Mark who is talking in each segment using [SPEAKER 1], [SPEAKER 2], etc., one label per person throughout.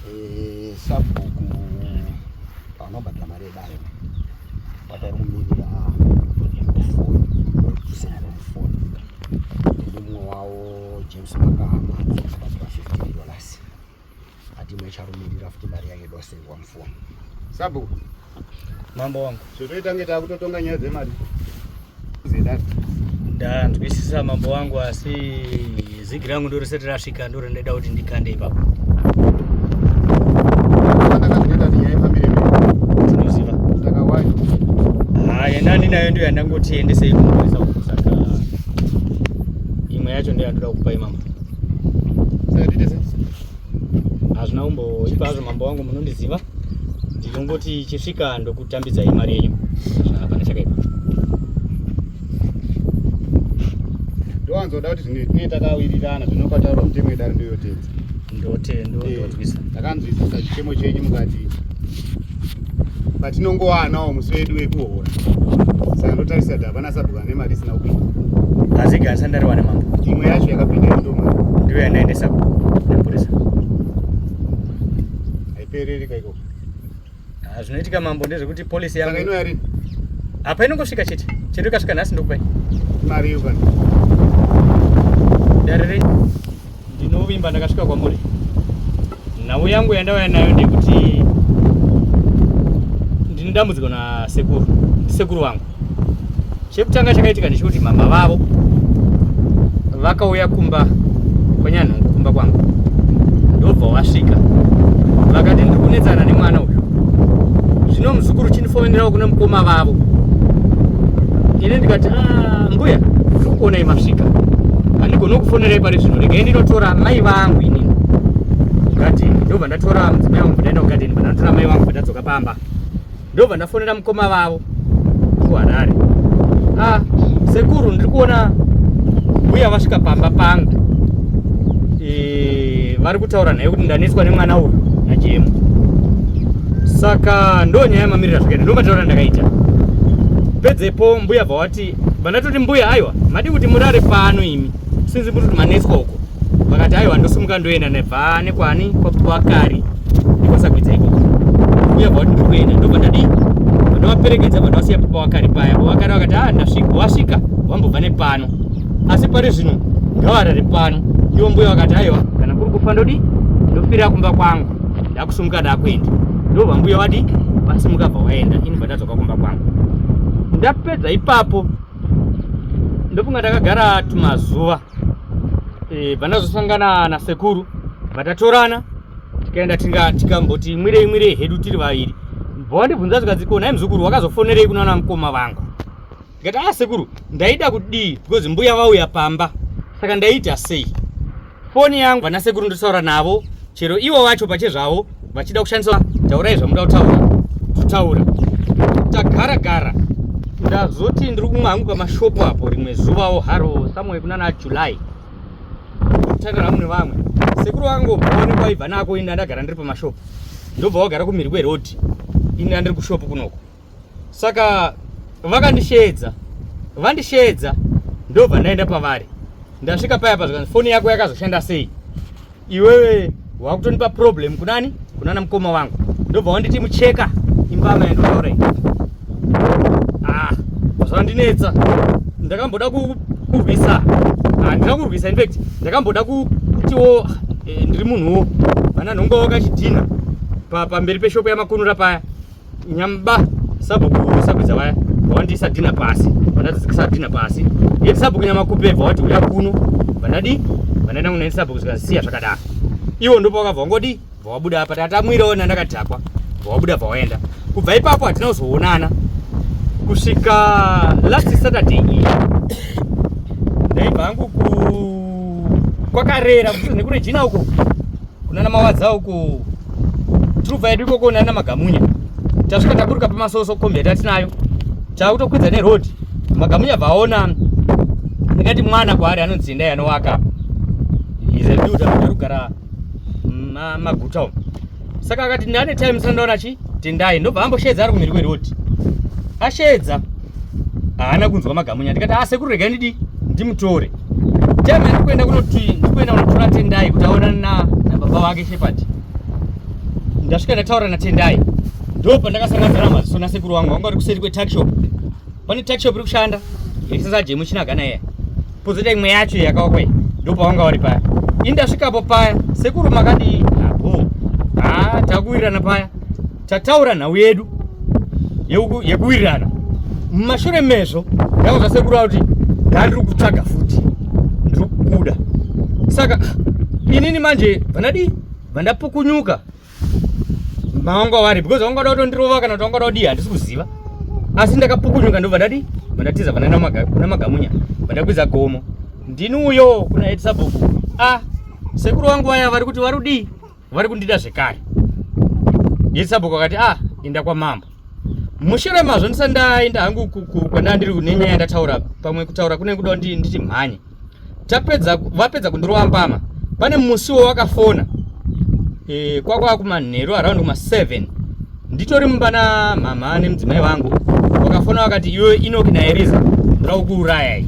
[SPEAKER 1] Eh, sabhuku anobata mari yebayo bata kumirira kusendera mufoni ndimumwe wawo james makama akabatira 15 dollars ati imwe icharumirira futi mari yayo idosendwa mufoni sabhuku
[SPEAKER 2] Mambo wangu. Zvotoita nge takutotonga
[SPEAKER 1] nyaya dzemari. Zidani.
[SPEAKER 2] Ndanzwisisa mambo wangu asi zigi rangu ndori sati rasvika ndori ndaida kuti ndikande ipapo. Nani nayo ndio yandangoti endese ikumwesa kusaka imwe yacho ndio yandoda kukupa imama. Sasa dite sasa. Hazvina umbo ipa hazvo mambo wangu munondiziva. ndinongoti chisvika ndokutambidza imari yenyu hapana chakaipa
[SPEAKER 1] ndowanzoda kuti tinee takawirirana zvinokataura mutemo yedare ndoyotedza ndotendonzwisa
[SPEAKER 2] eh, takanzwisisa
[SPEAKER 1] chichemo chenyu mukati patinongowanawo musi wedu wekuhora saka ndotarisira kuti hapana sabhuka nemari isina kupinda asi gasa ndariwana
[SPEAKER 2] mambo imwe yacho yakapinda
[SPEAKER 1] ndoma ndiyo
[SPEAKER 2] yandaendesa
[SPEAKER 1] haipereri ka ikoko ah,
[SPEAKER 2] zvinoitika mambo ndezvekuti polisi yangu inouya rini
[SPEAKER 1] apa inongosvika
[SPEAKER 2] chete chete ikasvika nhasi ndokupai mari iyo
[SPEAKER 1] kana
[SPEAKER 2] dare renyu ndinovimba ndakasvika kwamuri nhau yangu yandauya nayo ndekuti ndine dambudziko nasekuru ndisekuru wangu chekutanga chakaitika ndechekuti mama vavo vakauya kumba kwanyanhungu kumba kwangu ndobva wasvika vakati ndiri kunetsana nemwana uyu zvino muzukuru chinifomenerawo kune mukoma vavo ini ndikati ah, mbuya ndiri kuonai masvika handigoni kufonerai pari zvino regai ndinotora mai vangu ini gadheni ndobva ndatora mudzimai wangu ndaenda kugadheni bva ndatora mai wangu bva ndadzoka pamba ndobva ndafonera mukoma vavo kuharare ah, sekuru ndiri kuona mbuya vasvika pamba pangu e, vari kutaura naye kuti ndanetswa nemwana uyu najemu saka ndo nyaya yamamirira zvakaita ndo mataura ndakaita pedzepo mbuya bva wati vandatoti mbuya aiwa madi kuti murare pano imi sinzi muri kuti manetswa uko vakati aiwa ndosimuka ndoenda nebva nekwani kwakari ndikwasagwidza ikoko uye bva kuti ndiri kuenda ndobva ndadii ndovaperekedza bva ndavasiya papa wakari paya pavakari vakati a ah, ndasvika wasvika wambobva nepano asi pari zvino ngavarari pano ivo mbuya vakati aiwa kana kuri kufa ndodii ndofirira kumba kwangu ndakusumuka ndakuenda ndobva mbuya wadii vasimuka bva waenda ini bva ndadzoka kumba kwangu ndapedza ipapo ndofunga ndakagara tumazuva e, eh, vandazosangana nasekuru vatatorana tikaenda tinga tikamboti mwirei mwirei hedu tiri vaviri bvawandibvunza zvikanzi ko nhai muzukuru wakazofonerei kunaona mukoma vangu ndikati a ah, sekuru ndaida kudii because mbuya vauya pamba saka ndaita sei foni yangu vanasekuru ndotaura navo chero ivo vacho pachezvavo vachida kushandisa taurai zvamuda kutaura totaura tagara gara ndazoti ndiri kumwe hangu pamashopu apo rimwe zuvawo haro somewhere kunana july tanga rangu nevamwe sekuru vangu vaone kwaibva nako ini ndandagara ndiri pamashopu ndobva wagara kumiri kwerodhi ini andiri kushopu kunoko saka vakandisheedza vandisheedza ndobva ndaenda pavari ndasvika paya pazvikanzi foni yako yakazoshanda sei iwewe wakutonipa problem kunani kunana mukoma wangu ndobva wanditi mucheka imbama yandotaura iyi ah, zvandinetsa ndakamboda kurwisa handina ah, kurwisa infact ndakamboda kutiwo eh, ndiri munhuwo vana nhonga wakachidhina pamberi peshopo yamakunura paya nyamba sabhuku sabhuza vaya vawandisa dina pasi vandadzikisa dina pasi ye sabhuku nyama kupe vawati uya kuno vandadi vandaenda kunaini sabhuku zvikasiya zvakadaro iwo ndipo vakabva wangodi vawabuda apa tatamwiraona ndakadhakwa vawabuda vawaenda kubva ipapo hatina kuzoonana kusvika last saturday iyi ndaibva hangu kwakarera nekune jina uko kunana mawadza uko truva yedu ikoko nana magamunya tasvika taburuka pamasoso kombi yatatinayo takutokwidza neroad magamunya vaona ndingati mwana kwaari anonzi endai anowaka izebudaaarugara maguta umu saka akati ndane time sandaona chi tendai ndobva amboshedza ari kumhiri kweroti ashedza haana kunzwa magamunya ndikati a ah, sekuru regai ndidi ndimutore teme ndikuenda kunoti ndikuenda kunotora tendai kuti aonane nababa vake shepard ndasvika ndataura natendai ndo pandakasangadzana maziso nasekuru wangu vanga vari kuseri kwetakshop pane takshop iri kushanda yaisasajemuchi chinagana iya pozoita imwe yacho yakawakwe ndo pavanga vari paya ini ndasvikapo paya sekuru makadii apo ha takuwirirana paya tataura nhau yedu yekuwirirana mumashure mezvo ndakuzva sekuru kuti ndandiri kutsvaga futi ndiri kubuda saka inini manje vandadii vandapukunyuka mavanga wari because vangada kutondirova kana kuti vangada kudii handisi kuziva asi ndakapukunyuka ndobva ndadii vandatiza vandaenda kuna magamunya vandakwidza gomo ndini uyo kuna edisabhuku a ah, sekuru wangu vaya vari kuti vari kudii vari kundida zvekare yesabhuku akati ah inda kwamambo mushure mazvo ndisa ndaenda hangu kwandaa ndiri nenyaya yandataura pamwe kutaura kune kuda kuti nditi mhanye tapedza vapedza kundirova mbama pane musiwo wakafona e, kwakwa kumanheru around kuma 7 nditori mumba na mhamha nemudzimai vangu wakafona wakati iwe inoki naeriza ndira kukuurayai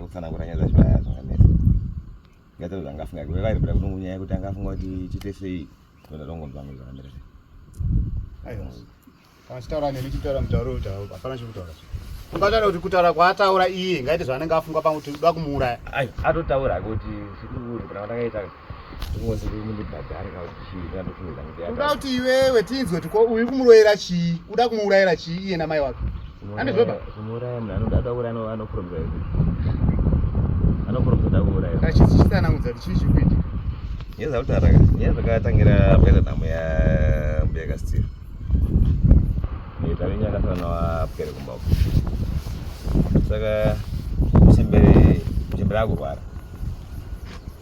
[SPEAKER 1] kutsanangura nyaya dzacho vaya zvakanetsa ngaita kuti angafunga kuve vairi kuda kutongo nyaya yekuti angafunga kuti chiite sei kuenda tongonzwa ngo zvakamira sei aiwa kana chitaura neni chitaura mutauro kuti hapana chekutaura ungataura kuti kutaura kwaataura iye ngaite zvaanenge afungwa pamwe kuti uda kumuuraya atotaura kuti zvikuru kana ndakaita uda kuti iwewe tinzwe kuti ko uyu kumuroyera chii uda kumuurayira chii iye namai wake andizvoba achisanangudza kuti chii chikuita nyaya dzakutara nyaya dzakatangira pakaita nhamo yambuya kasteve tavenye akasana wapwere kumba uko saka chembere chembere akurwara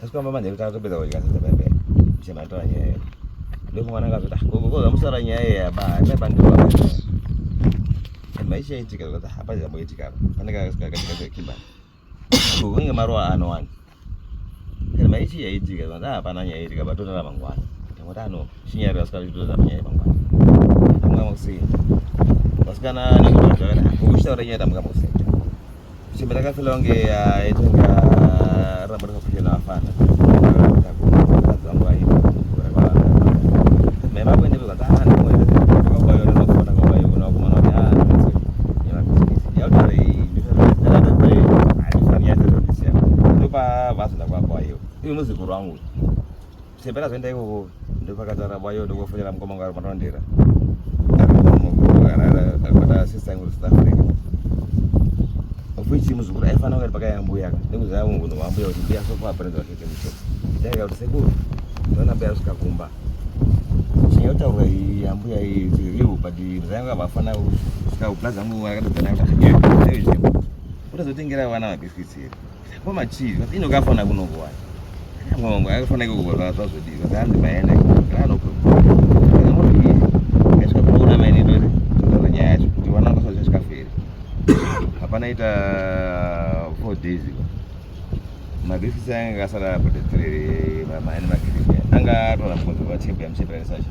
[SPEAKER 1] Tasikwamba manje kutanga topedza kudya sadza bebe. Chema tora nyaya yedu. Ndio mwana akazoti ah gogo gogo musara nyaya yedu aba. Ina bandu baba. Maisha itika kuti hapa jambo itika apa. Pane kana kasikaka katika kimba. Gogo nge marwa ano wani. Kana maisha yaitika kuti hapana nyaya itika batotara mangwana. Ndamota ano shinyari kasikaka kutoza nyaya mangwana. Mwana kusini. Vasikana nekuti zvakana. Kushitaura nyaya tamka musini. Chimba takafila kunge yaitanga ah, rambo rakafushela afana. Ini muzukuru wangu Sembera zenda iwo ndopakatara bwayo ndokufonera mukoma ngaro panondera. Akabata sister yangu South Africa. Ofichi muzukuru aifana ngati pakaya mbuya ka. Ndikuza yangu kuno mbuya kuti mbuya sofa aparenza kuti msho. Ndaya kuti sekuru. Ndona mbuya usikakumba. Chinya utaura iyi yambuya iyi tiriu but ndanga vafana usika plaza mbuya akatozana kuti. Kutazotengera vana mabiscuits here. Kwa machivi ino kafana kuno kwa. Mwangu akafana kuko zva zva zvodi. Vakanzi maenda kana uko. Kana mwana iye. Kashika kuona maini ndo tutaura nyaya yacho kuti wana ndo sasa chikaferi. Hapana ita 4 days ago. Mabhifi sanga kasara potetere maani makiri. Anga tora mkozo wa chimbe amchipera sacha.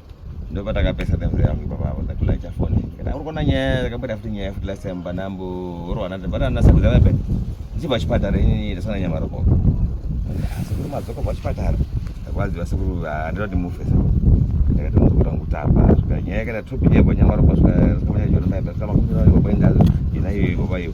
[SPEAKER 1] Ndio pata kabisa the mzee wangu baba hapo ndakula cha phone. Kana uko na nyaya kabla futi nyaya futi la semba nambo oro anata bana na sabu zawe pe. Jiba chipatara ini ndasana nyama roko. Asikuru mazoko kwa chipatara. Kwazi wasikuru andira kuti mufe sasa. Ndakati mukura ngutapa zvika nyaya kana tupi yebo nyama roko zvika kama nyama roko zvika makuru roko baba indazo. Ina hiyo baba hiyo.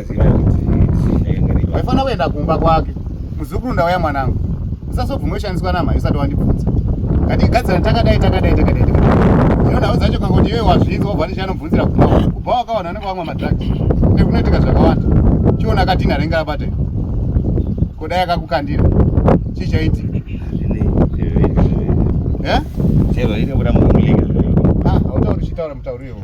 [SPEAKER 1] Waifanira
[SPEAKER 3] kuenda kumba kwake. Muzukuru ndauya mwanangu. Usazobvuma ushandiswa namai usati wandibvunza. Ngatigadzira takadai takadai takadai. Ndinoda uzacho kanga kuti iwe wazvinzi wobva ndichi anobvunzira kumba. Kubva wakawana unenge wamwa madrugs. Nekunoitika zvakawanda. Chiona katina renga abate. Kodai akakukandira. Chii chaitika? Eh?
[SPEAKER 1] Chero ine kuda mumulinga. Ah, hautauri
[SPEAKER 3] chitaura mutauri iwo.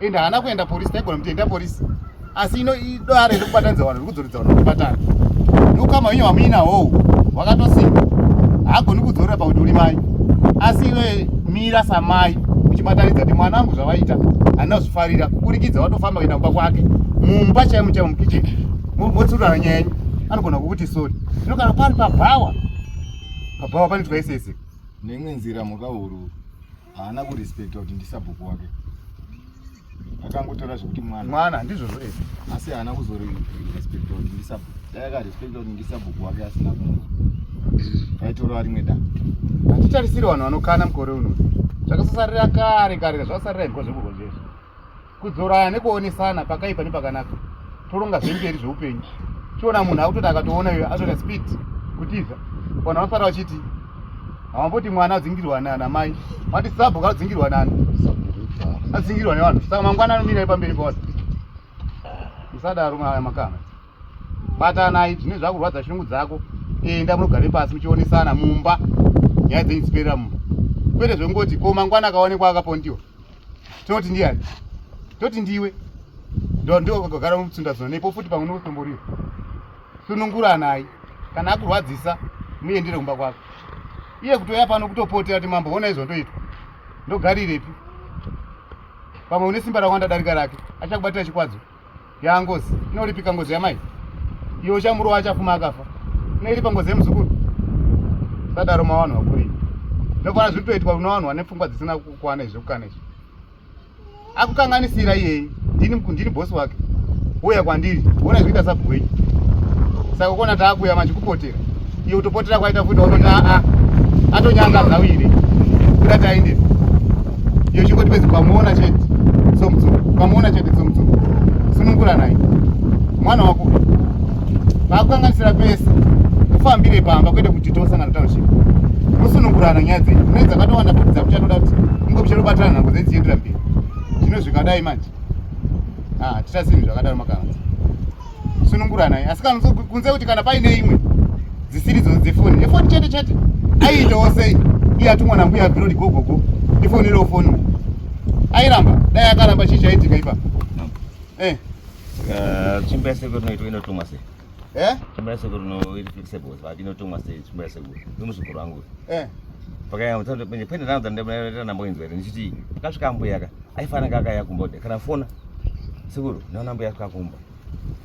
[SPEAKER 3] and haana kuenda police taigona kuti enda police asi ino idare rekubatanidza vanhu rikudzoredza vanhu kubatana ndokama wenyu wamuina hou wakatosimba haagoni kudzorera pakuti uri mai asi iwe mira samai uchibatanidza kuti mwana angu zvavaita handina kuzvifarira kuburikidza watofamba kuenda kumba kwake mumba chaimo chaimo mukitchen motsurana nyaya yenyu anogona kukuti sori ino kana pari pabhawa pabhawa panoitwa isese neimwe nzira
[SPEAKER 4] mhukahuru haana kurespecta kuti ndisabhuku wake akangotora zvekuti mwana mwana ndizvozvo e
[SPEAKER 3] asi haana
[SPEAKER 4] kuzorespecta kuti ndisabhuku dai akarespecta kuti ndisabhuku wake asina kuona aitorova rimwe da hatitarisiri
[SPEAKER 3] vanhu vanokana mukore uno zvakasasarira kare kare zvakasarira hiko zvekuko zvese kudzorana nekuonesana pakaipa nepakanaka toronga zvemberi zveupenyu chiona munhu akutoti akatoona iyo atoita speed kutiza vanhu vafara vachiti havamboti mwana adzingirwa nana mai vati sabhuka adzingirwa nani adzingirwa nevanhu saka mangwana anomira ipamberi pavanhu musadaro maya makama batanai zvine zvakurwadza shungu dzako enda munogare pasi muchionesana mumba nyaya dzenyu dziperera mumba kwete zvekungoti ko mangwana akaonekwa akapondiwa toti ndiyani toti ndiwe ndokagara mumutsinda zona nepo futi pamwe nokutomborira sununguranai kana akurwadzisa muendere kumba kwako iye kutouya pano kutopotera kuti mambo ona izvo ndoitwa ndogarirepi pamwe une simba rakwanda darika rake achakubatira chikwadzo ya ngozi inoripika ngozi yamai iyo uchamurova achafuma akafa inoiripa ngozi yemuzukuru sadaro mawanhu vakurii ndokuona zviri kutoitwa unowanhu wane pfungwa dzisina kukwana izvi kukana izvi akukanganisira iyeyi ndini ndini bosi wake uya kwandiri uona zvikuita sabhuku wenyu saka kuona taakuya machikupoti kubatsira iyo kutopotera kwaita futi waunoti aa atonyanga zawire kuda tainde iyo chingoti pezi pamuona chete somutsuku pamuona chete somutsuku sunungura naye mwana wako vakukanganisira pese ufambire pamba kwete kuti tosangana taushii musunungurana nyaya dzenyu mune dzakatowanda futi dzakuchatoda kuti munge muchatobatana nhango dzenyu dzichiendera mberi zvino zvikadai manje ah, tichasinhu zvakadaro makaanza sununguranai asi kana kunze kuti kana paine imwe dzisiri dzozi dzefoni efoni chete chete aiitawo sei iye atumwa nambuya bhirodi gogogo ifoni iro foni airamba dai akaramba chii chaitika ipa eh. eh,
[SPEAKER 1] tsvimbo yasekuru inoitwa inotumwa sei eh? tsvimbo yasekuru inoirisebos but inotumwa sei tsvimbo yasekuru imuzukuru wangu eh. pakayambo tsandopenye pene rangu dzandaita namboinzwa here ndichiti akasvika ambuyaka aifana kaka yakumbode kana fona sekuru naona mbuya kakumba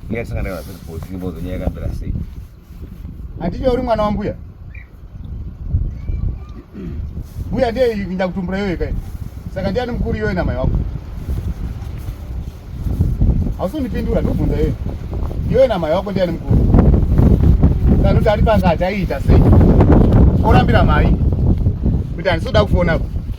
[SPEAKER 1] mbuya sanga ndava kuti for simbo zenya yakambira sei
[SPEAKER 3] anditi uri mwana wambuya mbuya ndiye ndakutumbura yoyo kai saka ndiani mukuru yoyo namai wako hausundipindura ndobvunza yoyo yoyo namai wako ndiani mukuru kana kuti ari pangati aiita sei orambira mai kuti handisoda kufona ku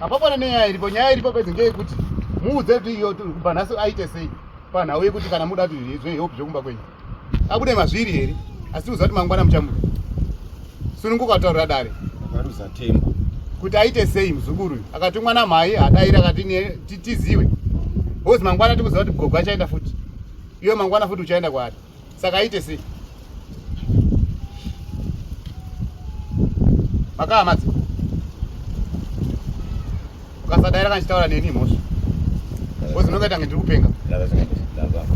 [SPEAKER 3] hapapana nenyaya iripo nyaya iripo pedze ngeyekuti muudze kuti iyo kubva nhasi aite sei panhau yekuti kana muda kuti zvehope zvekumba kwenyu abude mazviri here asi uziva kuti mangwana muchamuda sununguka kutaurira dare akaruza tembo
[SPEAKER 4] kuti aite
[SPEAKER 3] sei muzukuru uyu akatumwa namhai adaira akati tiziwe hozi mangwana tikuziva kuti gogo achaenda futi iwe mangwana futi uchaenda kwaari saka aite sei makaa madzi ukasadaira kana chitaura neni mhosva kozi ndinonga tange ndiri kupenga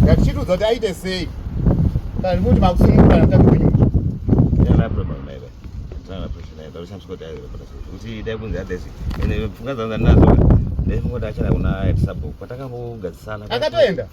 [SPEAKER 3] ngatichitiudza kuti aite sei kana ndikuti
[SPEAKER 1] makusunungura namutambi wenyu kuti dai kunzi adesi ende pfungwa dzangu dzandinadzo ndaifunga kuti achana kuna etisabhuku patakambogadzisana akatoenda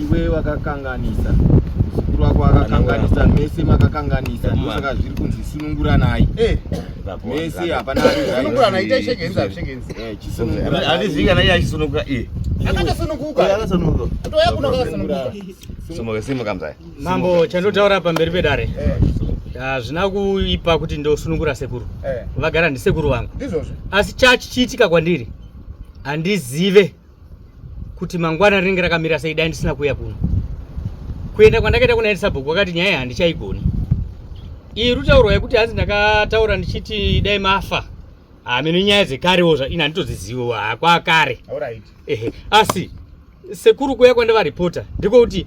[SPEAKER 4] iwe wakakanganisa mukuru wako akakanganisa mese makakanganisa ndosaka zviri kunzi sununguranai eh.
[SPEAKER 3] mese
[SPEAKER 1] hapana mambo chandotaura
[SPEAKER 2] pamberi pedare eh. hazvina kuipa kuti ndosunungura sekuru eh. vagara ndisekuru vangu asi
[SPEAKER 3] chachichiitika
[SPEAKER 2] kwandiri handizive kuti mangwana rinenge rakamira sei dai ndisina kuuya kuno kuenda kwandakaita kuna elisabhuku wakati nyaya handichaigoni iri rutaurwa yekuti hanzi ndakataura ndichiti dai mafa hameno ah, nyaya dzekarewo zva ini handitodziziviwa hakwakare ah, ehe asi sekuru kuya kwandavaripota ndiko kuti